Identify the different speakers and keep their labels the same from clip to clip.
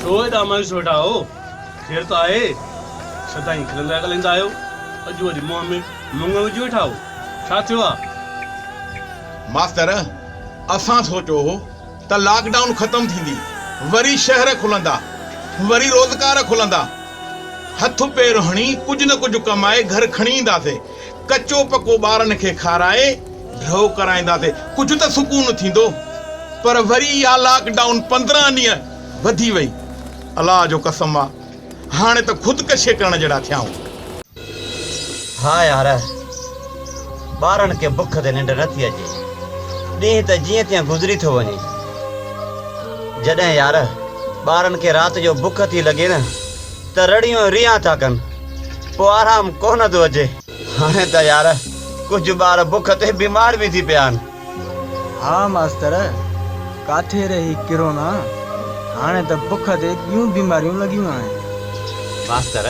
Speaker 1: ڇو ايڏا مايوس ويٺا آهيو؟ خير ته آهي؟ سدائين کلندا ڳالهائيندا آهيو، اڄ وري منهن ۾ مڱ وجهي ويٺا آهيو، ڇا ٿيو آهي؟
Speaker 2: ماستر، اسان سوچيو هو. ته لاڪ ڊائون ختم ٿيندي، وري شهر کلندا، وري روزگار کلندا، هٿ پير هڻي ڪجهه نه ڪجهه ڪمائي گهر کڻي اينداسين، ڪچو پڪو ٻارن کي کارائي ڍؤ ڪرائينداسين، ڪجهه ته سڪون ٿيندو، پر وري اها لاڪ ڊائون پندرهن ڏينهن وڌي وئي، الله جو قسم آ. هاڻي ته خودڪشي ڪرڻ جهڙا ٿيائون.
Speaker 3: ها يار! ٻارن کي بک تي ننڊ نٿي اچي. ڏينهن ته جيئن تيئن گذري ٿو وڃي. جڏهن يار ٻارن کي رات جو بک ٿي لڳي نه ته رڙيون ۽ ريان ٿا ڪن. پوء آرام ڪونه ٿو اچي. هاڻي ته يار ڪجهه ٻار بک تي بيمار به ٿي پيا آهن. ها ماستر،
Speaker 4: ڪاٿي رهي ڪرونا، هاڻي ته بک تي ٻيون بيماريون لڳيون آهن. ماستر،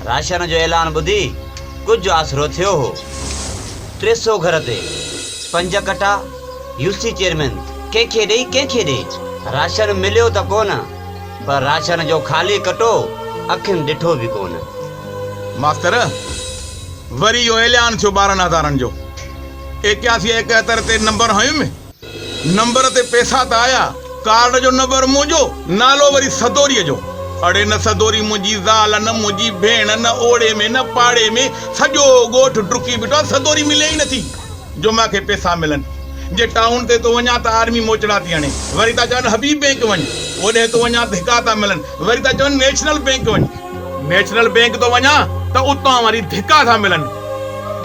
Speaker 3: راشن جو اعلان ٻڌي ڪجهه آسرو ٿيو هو. ٽي سو گهر تي پنج ڪٽا، يو سي چيئرمين ڪنهن کي ڏئي ڪنهن کي ڏئي. راشن مليو ته ڪونه، پر راشن جو خالي ڪٽو اکين ڏٺو به ڪونه. ماستر،
Speaker 2: وري اهو اعلان ٿيو ٻارهن هزارن جو. ايڪياسي ايڪهتر تي نمبر هنيم. نمبر تي پئسا ته آيا، ڪارڊ جو نمبر منهنجو، نالو وري سدوريء جو. اڙي نه سدوري منهنجي زال، نه منهنجي ڀيڻ، نه اوڙي ۾ نه پاڙي ۾، سڄو ڳوٺ ڊڪي بيٺو آ، سدوري ملي ئي نٿي، جو مان کي پئسا ملن. جي ٽائون تي ٿو وڃان ته آرمي موچڙا ٿي هڻي، وري ٿا چون حبيب بينڪ وڃ. اوڏهه ٿو وڃان ڌڪا ٿا ملن، وري ٿا چون نيشنل بينڪ وڃ. نيشنل بينڪ ٿو وڃان ته اتان وري ڌڪا ٿا ملن.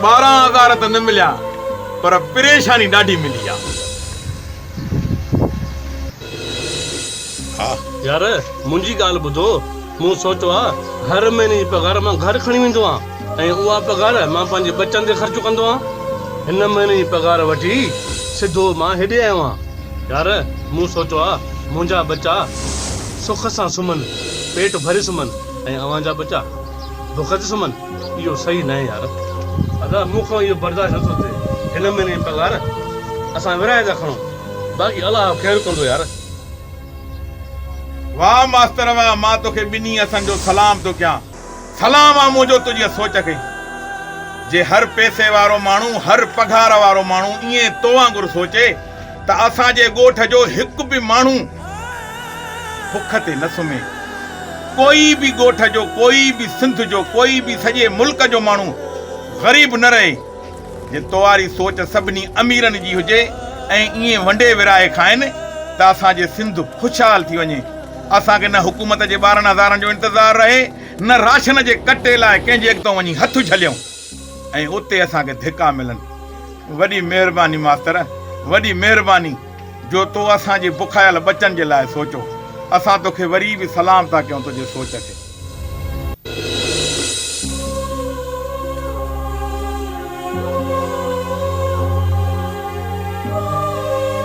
Speaker 2: ٻارهن هزار ته نه مليا پر پريشاني ڏاڍي ملي آ.
Speaker 1: يار منهنجي ڳالهه ٻڌو مون سوچيو آ هر مهيني جي پگهار مان گهر کڻي ويندو آ ۽ اها پگهار مان پنهنجي ٻچن تي خرچ ڪندو آ هن مهيني جي پگهار وٺي سڌو مان هيڏي آيو آ يار مون سوچيو آ منهنجا ٻچا سک سان سمهن پيٽ ڀري سمهن ۽ اوهان جا ٻچا بخت سمن اهو صحيح ناهي يار. ادا مون کان اهو برداشت نٿو ٿئي هن مهيني جي پگهار اسان ورهائي ٿا کڻون باقي الله خير ڪندو يار.
Speaker 2: واه ماستر واه مان توکي ٻنهي هٿن جو سلام ٿو ڪيان سلام آ منهنجو تنهنجي سوچ کي جي هر پئسي وارو ماڻهو هر پگهار وارو ماڻهو ائين تو وانگر سوچي ته اسان جي ڳوٺ جو هڪ به ماڻهو بک تي نه سمهي. ڪوئي به ڳوٺ جو، ڪوئي به سنڌ جو، ڪوئي به سڄي ملڪ جو ماڻهو غريب نه رهي. جي توهاري سوچ سڀني اميرن جي هجي ۽ ائين ونڊي ورهائي کائين ته اسان جي سنڌ خوشحال ٿي وڃي. اسان کي نه حڪومت جي ٻارهن هزارن جو انتظار رهي، نه راشن جي ڪٽي لاء ڪنهن جي اڳتئون وڃي هٿ جهليون. ۽ اتي اسان کي ڌڪا ملن. وڏي مهرباني ماستر وڏي مهرباني جو تو اسان جي بکايل ٻچن جي لاء سوچو اسان توکي وري به سلام ٿا ڪيون تنهنجي سوچ تي.